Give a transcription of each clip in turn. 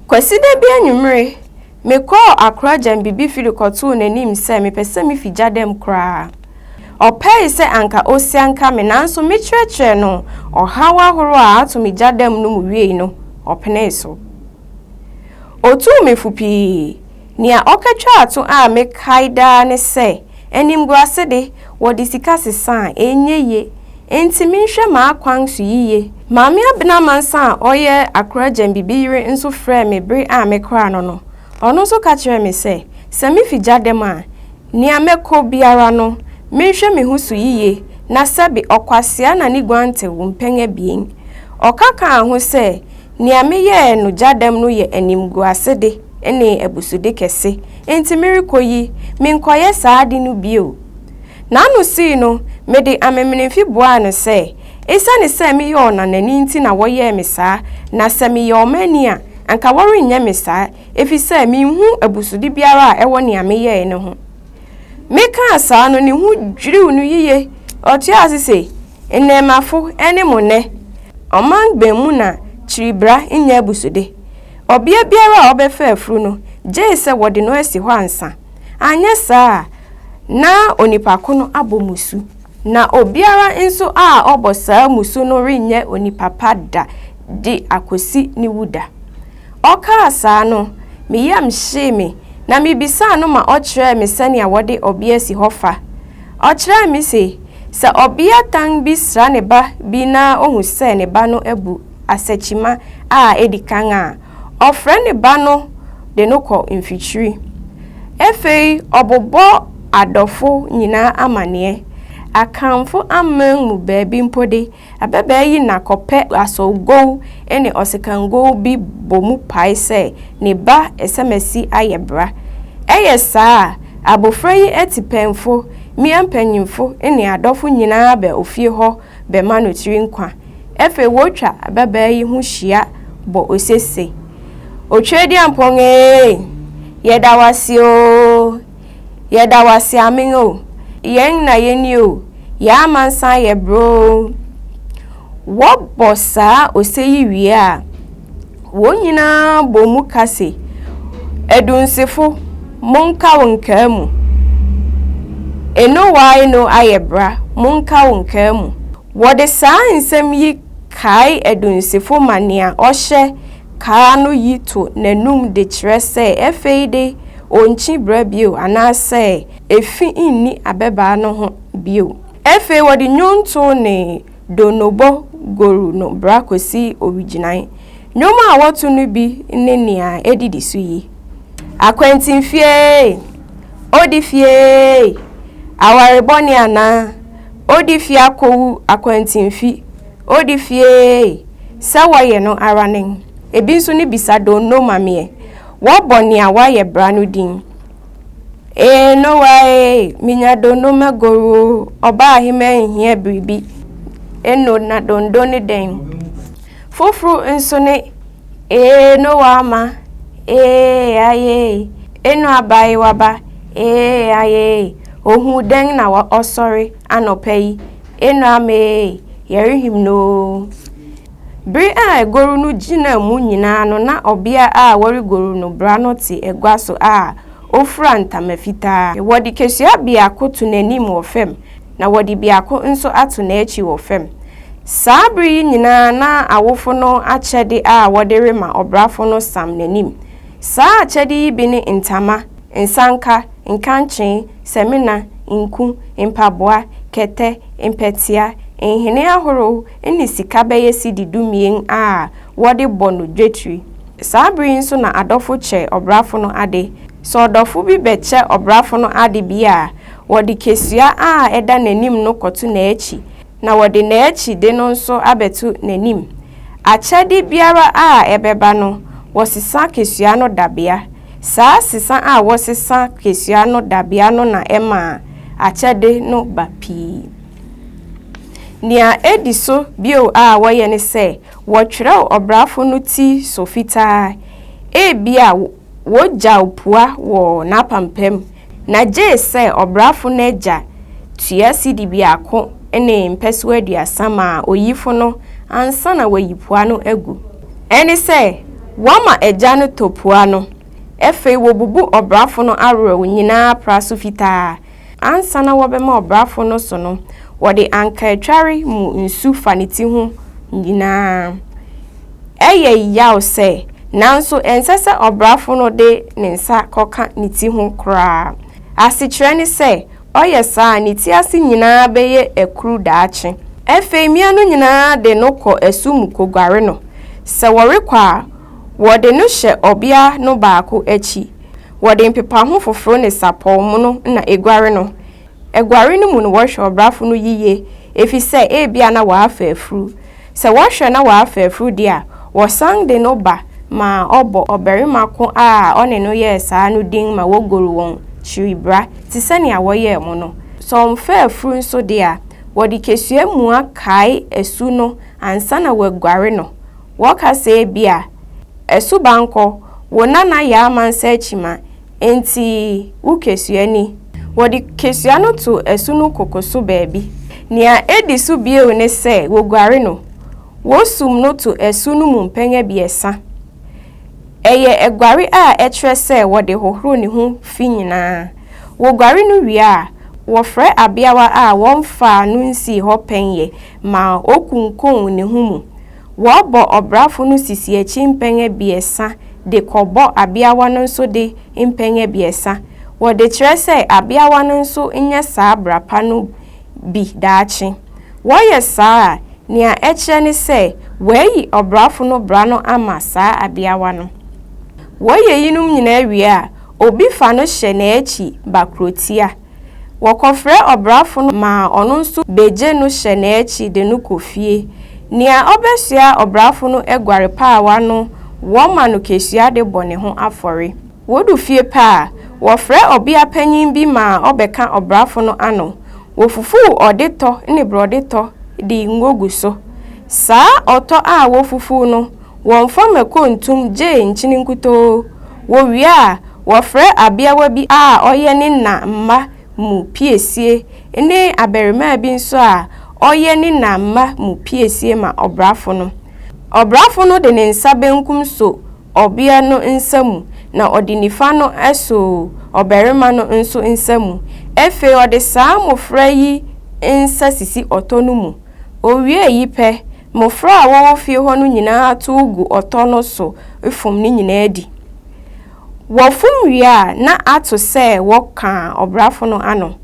Kwasida bi anwummere, mekɔɔ akora gyambibi fi de kɔtoo n'anim sɛ mepɛ sɛ mifi gya dɛm koraa. Ɔpɛe sɛ anka osianka me nanso mekyerɛkyerɛɛ no ɔhaw ahorow a ato me gya dɛm no mu wiei no, ɔpenee so. Otuu me fo pii. Nea ɔkɔtwaa to a mekae daa ne sɛ, Animguase de, wɔde sika sesa a, ɛnyɛ yie. Enti menhwɛ m'akwan so yiye. Maame Abena Mansa a ɔyɛ Accra Gyambibi yere nso frɛɛ me bere a mekɔraa no no. Ɔno nso ka kyerɛɛ me sɛ, sɛ mifi gya dɛm a, nea mɛkɔ biara no, menhwɛ me ho so yiye na sɛbe ɔkwasea na ne guantew mpɛn abien. Ɔka kaa ho sɛ, Nea meyɛɛ no gya dɛm no yɛ animguasede ne abusude kɛse, enti merekɔ yi, menkɔyɛ saa ade no bio. N'ano sui no, mede amemenemfe buaa no sɛ, Esiane sɛ meyɛ ɔnanani nti na wɔyɛɛ me saa, na sɛ meyɛ ɔmanni a, anka wɔrenyɛ me saa, efisɛ minhu abusude biara a ɛwɔ nea meyɛe no ho. Mekaa saa no, ne ho dwiriw no yiye. Ɔtoaa so se, Nnɛɛmmafo ne mo nnɛ, ɔman bɛn mu na kyiribra nyɛ abusude? Ɔbea biara a ɔbɛfa afuru no gyei sɛ wɔde no asi hɔ ansa, anyɛ saa a na onipa ko no abɔ mmusu. Na obiara nso a ɔbɔ saa mmusu no renyɛ onipa pa da de akosi ne wuda. Ɔkaa saa no, me yam hyee me, na mibisaa no ma ɔkyerɛɛ me sɛnea wɔde ɔbea si hɔ fa. Ɔkyerɛɛ me se, sɛ ɔbeatan bi sra ne ba bi na ohu sɛ ne ba no abu asakyima a edi kan a, ɔfrɛ ne ba no de no kɔ mfikyiri. Afei ɔbobɔ adɔfo nyinaa amanneɛ, Akanfo aman mu baabi mpo de, Ababaa yi na kɔpɛ asɔwgow ne ɔsekangow bi bɔ mu pae sɛ ne ba Esamasi ayɛ bra. Ɛyɛ saa a, abofra yi atipɛnfo, mmea mpanyimfo ne adɔfo nyinaa ba ofie hɔ bɛma no tiri nkwa. Afei wotwa ababaa yi ho hyia bɔ ose se, Otwedeampɔn ee, yɛda wo ase oo! Yɛda wo ase amen o. Yɛn na yɛni o. Yɛn amansan yɛ broo. Wɔbɔ saa ose yi wie a, wɔn nyinaa bɔ mu ka se, Adunsifo, monka wo nkaa mu. Enowae no ayɛ bra, monka wo nkaa mu. Wɔde saa nsɛm yi kae adunsifo ma nea ɔhyɛ Kaa no yi to n'anom de kyerɛ sɛ afei de onnkyi bra bio anaasɛ efi nni abɛbaa no ho bio. Afei wɔde nnwonto ne donnobɔ goru no bra kosi owigyinae. Nnwom a wɔto no bi ne nea edidi so yi, Akwantinfieeei! Odi fieeei! Aware bɔne anaa? Odi fie akowu akwantinfi! Odi fieeii sɛ wɔyɛ no ara nen. Ebi nso ne bisa donno ma meɛ. Wɔbɔ nea wayɛ bra no din. Eeii Noah eeii menya donno magoru oo ɔbaa he manhia biribi eno na donno ne dɛn. Foforo nso ne eeii Noah ama eeii ayeeii eno abaayewa ba eeii ayeeii ohuu dɛn na ɔsɔre anɔpa yi Enuanom ee, yɛrehim no oo. Bere a agoru no gyinaa mu nyinaa no na ɔbea a wɔregoru no bra no te agua so a ofura ntama fitaa. Wɔde kesua biako to n'anim wɔ fam na wɔde biako nso ato n'akyi wɔ fam. Saa bere yi nyinaa na awofo no akyɛde a wɔde rema ɔbrafo no sam n'anim. Saa akyɛde yi bi ne ntama, nsanka, nkankyee, samina, nku, mpaboa, kɛtɛ, mpɛtea, nhene ahorow ne sika bɛyɛ cedi dumien a wɔde bɔ no dwetiri. Saa bere yi nso na adɔfo kyɛ ɔbrafo no ade. Sɛ ɔdɔfo bi bɛkyɛ ɔbrafo no ade bi a, wɔde kesua a ɛda n'anim no kɔto n'akyi. na wɔde n'akyide no nso abɛto n'anim. Akyɛde biara a ɛbɛba no, wɔsesa kesua no dabea. Saa sesa a wɔsesa kesua no dabea no na ɛma akyɛde no ba pii. Nea edi so bio a wɔyɛ ne sɛ wɔtwerɛw ɔbrafo no ti so fitaa, ebia wogyaw pua wɔ n'apampam, Na gye sɛ ɔbrafo no agya tua sidi biako ne mpɛsoa aduasa ma oyifo no ansa na wayi pua no agu. Ɛne sɛ, wɔma agya no tɔ pua no, afei wobubu ɔbrafo no awerɛw nyinaa pra so fitaa. Ansa na wɔbɛma ɔbrafo no so no, wɔde ankaatware mu nsu fa ne ti ho nyinaa. Ɛyɛ yaw sɛ, nanso ɛnsɛ sɛ ɔbrafo no de ne nsa kɔka ne ti ho koraa. Asekyerɛ ne sɛ, ɔyɛ saa a, ne ti ase nyinaa bɛyɛ akuru daakye. Afei mmea no nyinaa de no kɔ asu mu koguare no. Sɛ wɔrekɔ a, wɔde no hyɛ ɔbea no baako akyi. Wɔde mpepaho foforo ne sapɔw mono na eguare no. Aguare no mu no wɔhwɛ ɔbrafo no yiye efisɛ ebia na wafa afuru. Sɛ wɔhwɛ na wafa afuru de a, wɔsan de no ba ma ɔbɔ ɔbarima ko a ɔne no yɛɛ saa no din ma wogoru wɔn kyiribra te sɛ nea wɔyɛɛ mo no. Sɛ ɔmfaa afuru nso de a, wɔde kesua mua kae asu no ansa na wɔaguare no. Wɔka sɛ ebia, Asubankɔ, wo nana yɛ amansan kyima, Enti wo kesua ni. Wɔde kesua no to asu no koko so baabi. Nea edi so bio ne sɛ woguare no. Wosum no to asu no mu mpɛn abiɛsa. Ɛyɛ aguare a ɛkyerɛ sɛ wɔde hohoro ne ho fi nyinaa. Woguare no wie a, wɔfrɛ abeawa a wɔmfaa no nsii hɔ pɛn yɛ ma okunkum ne ho mu. Wɔbɔ ɔbrafo no sisi akyi mpɛn abiɛsa de kɔbɔ abeawa no nso de mpɛn abiɛsa. Wɔde kyerɛ sɛ abeawa no nso nyɛ saa bra pa no bi daakye. Wɔyɛ saa a, nea ɛkyerɛ ne sɛ wɔayi ɔbrafo no bra no ama saa abeawa no. Wɔyɛ eyinom nyinaa wie a, obi fa no hyɛ n'akyi ba kurotia. Wɔkɔfrɛ ɔbrafo no ma ɔno nso begye no hyɛ n'akyi de no kɔ fie. Nea obesoa ɔbrafo no aguare paawa no, wɔma no kesua de bɔ ne ho afɔre. Wodu fie pɛ a, wɔfrɛ ɔbea panyin bi ma ɔbɛka ɔbrafo no ano. Wofufuw ɔde tɔ ne borɔde tɔ de ngo gu so. Saa ɔtɔ a wofufuw no, Wɔmfa mako ntom gyee nkyene nkutoo. Wɔwie a, wɔfrɛ abeawa bi a ɔyɛ ne na mma mu piesie ne abarimaa bi nso a ɔyɛ ne na mma mu piesie ma ɔbrafo no. Ɔbrafo no de ne nsa benkum so ɔbea no nsa mu na ɔde nifa no so ɔbarima no nso nsa mu. Afei ɔde saa mmofra yi nsa sisi ɔtɔ no mu. Ɔwie eyi pɛ, Mmofra a wɔwɔ fie hɔ no nyinaa tow gu ɔtɔ no so fom ne nyinaa di. Wɔfom wie a na ato sɛ wɔka ɔbrafo no ano.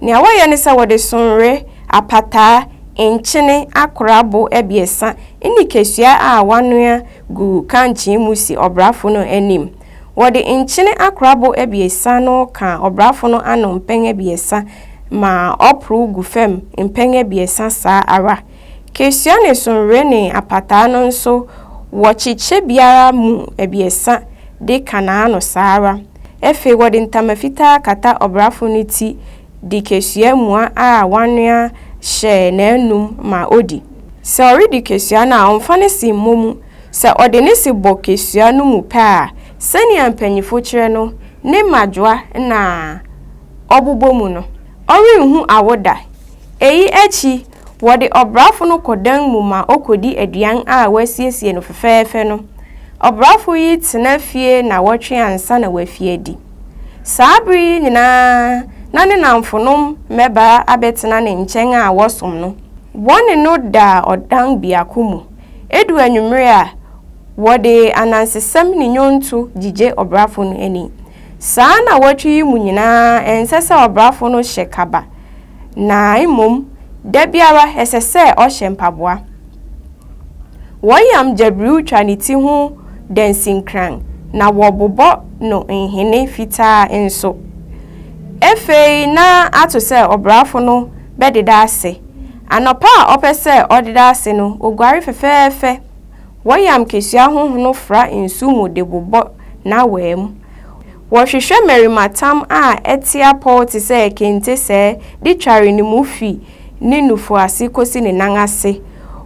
Nea wɔyɛ ne sɛ wɔde sonre, apataa, nkyene, akora bo abiɛsa ne kesua a wɔanoa gu kankyee mu si ɔbrafo no anim. Wɔde nkyene akora bo abiɛsa no ka ɔbrafo no ano mpɛn abiɛsa ma ɔporow gu fam mpɛn abiɛsa saa ara. Christiane Sonwrene apataa no nso wɔkyekyɛ biara mu abiɛsa de ka n'ano saa ara. Afei wɔde ntama fitaa kata ɔbrafo no ti de kesua mua a wɔanoa hyɛ n'anom ma odi. Sɛ ɔredi kesua no a, ɔmfa ne se mmɔ mu. Sɛ ɔde ne se bɔ kesua no mu pɛ a, sɛnea mpanyimfo kyerɛ no, ne mmadwoa na ɔbobɔ mu no, ɔrenhu awo da. Eyi akyi Wɔde ɔbrafo no kɔ dan mu ma okodi aduan a wɔasiesie no fɛfɛɛfɛ no. Ɔbrafo yi tena fie nnawɔtwe ansa na wafi adi. Saa bere yi nyinaa na ne nnamfonom mmabaa abɛtena ne nkyɛn a wɔsom no. Wɔne no da ɔdan biako mu. Edu anwummere a, wɔde anansesɛm ne nnwonto gyigye ɔbrafo no ani. Saa nnawɔtwe yi mu nyinaa ɛnsɛ sɛ ɔbrafo no hyɛ kaba. na mmom da biara ɛsɛ sɛ ɔhyɛ mpaboa. Wɔyam gyabiriw twa ne ti ho dansinkran na wɔbobɔ no nhene fitaa nso. Afei na ato sɛ ɔbrafo no bɛdeda ase. Anɔpa a ɔpɛ sɛ ɔdeda ase no, oguare fɛfɛɛfɛ. Wɔyam kesua honhono fra nsu mu de bobɔ n'awaa mu. Wɔhwehwɛ mmarimatam a ɛte apɔw te sɛ kente sɛɛ de tware ne mu fi ne nufu ase kosi ne nan ase.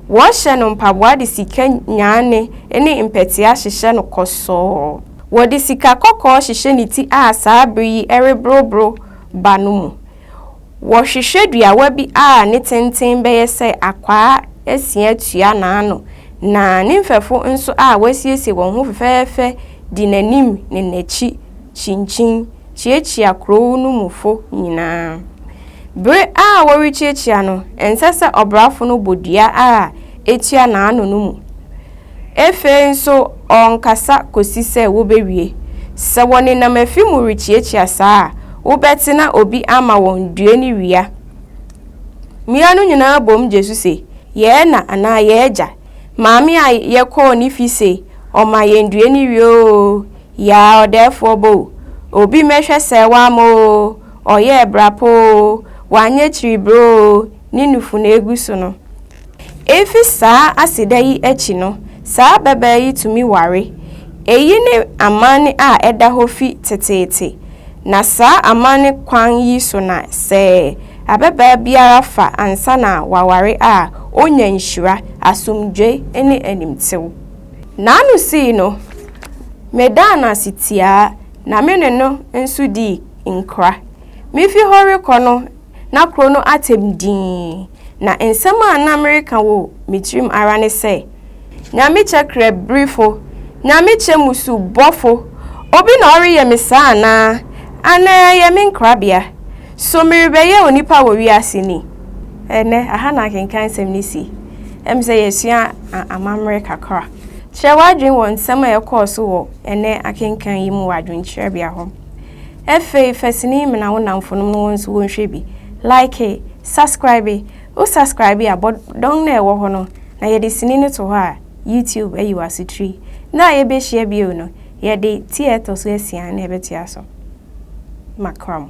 Wɔhyɛ no mpaboa de sika nyaane ne mpɛtea hyehyɛ no kɔsɔɔ. Wɔde sika kɔkɔɔ hyehyɛ ne ti a saa bere yi ɛreboroboro ba no mu. Wɔhwehwɛ duawa bi a ne tenten bɛyɛ sɛ akwaa asia tua n'ano, na ne mfɛfo nso a wɔasiesie wɔn ho fɛfɛɛfɛ di n'anim ne n'akyi kyinkyin kyiakyia kurow no mufo nyinaa. Bere a wɔrekyiakyia no, ɛnsɛ sɛ ɔbrafo no bɔ dua a etua n'ano no mu. Afei nso ɔrenkasa kɔsi sɛ wobɛwie. Sɛ wɔnenam afi mu rekyiakyia saa a, wobɛte na obi ama wɔn due ne wia. Mmea no nyinaa bom gye so se, Yɛɛ na anaa yɛɛ gya. Maame a yɛkɔɔ ne fi se ɔma yɛn due ne wia oo, yaa ɔdɛɛfoɔ bɔ o, obi mmɛhwɛ sɛɛ wamma oo, ɔyɛɛ bra pa oo, wanyɛ kyiribrɛ oo, ne nufu na ɛgu so no. Efi saa aseda yi akyi no, saa babaa yi tumi ware. Eyi ne amanne a ɛda hɔ fi teteete, na saa amanne kwan yi so na sɛ ababaa biara fa ansa na waware a, onya nhyira, asomdwoe, ne animtew. N'ano sii no, medaa no ase tiaa, na me ne no nso dii nkra. Mifi hɔ rekɔ no, na kuro no atɛm dinn, na nsɛm a na mereka wɔ me tirim ara ne sɛ, Nyamekyɛ krɛbrifo, Nyamekyɛ mmusu bɔfo, obi na ɔreyɛ me saa anaa? Anaa ɛyɛ me nkrabea? So merebɛyɛ onipa wɔ wiase ni? Ɛnnɛ, aha na akenkan nsɛm no si. Ɛm sɛ yɛasua amammerɛ kakra. Kyerɛ w'adwene wɔ nsɛm a ɛkɔɔ so wɔ ɛnnɛ akenkan yi mu wɔ adwenkyerɛbea hɔ. Ɛfei fa sini mena wo namfonom no wɔn nso wɔn hwɛ bi. Like, subscribe, wo subscribe a bɔ dɔn na ɛwɔ hɔ no na yɛde sini no to hɔ a YouTube ayi w'asotiri. Da a yɛbɛhyia bio no yɛde ti a ɛtɔ so asia na ɛbɛtoa so. Makra mo.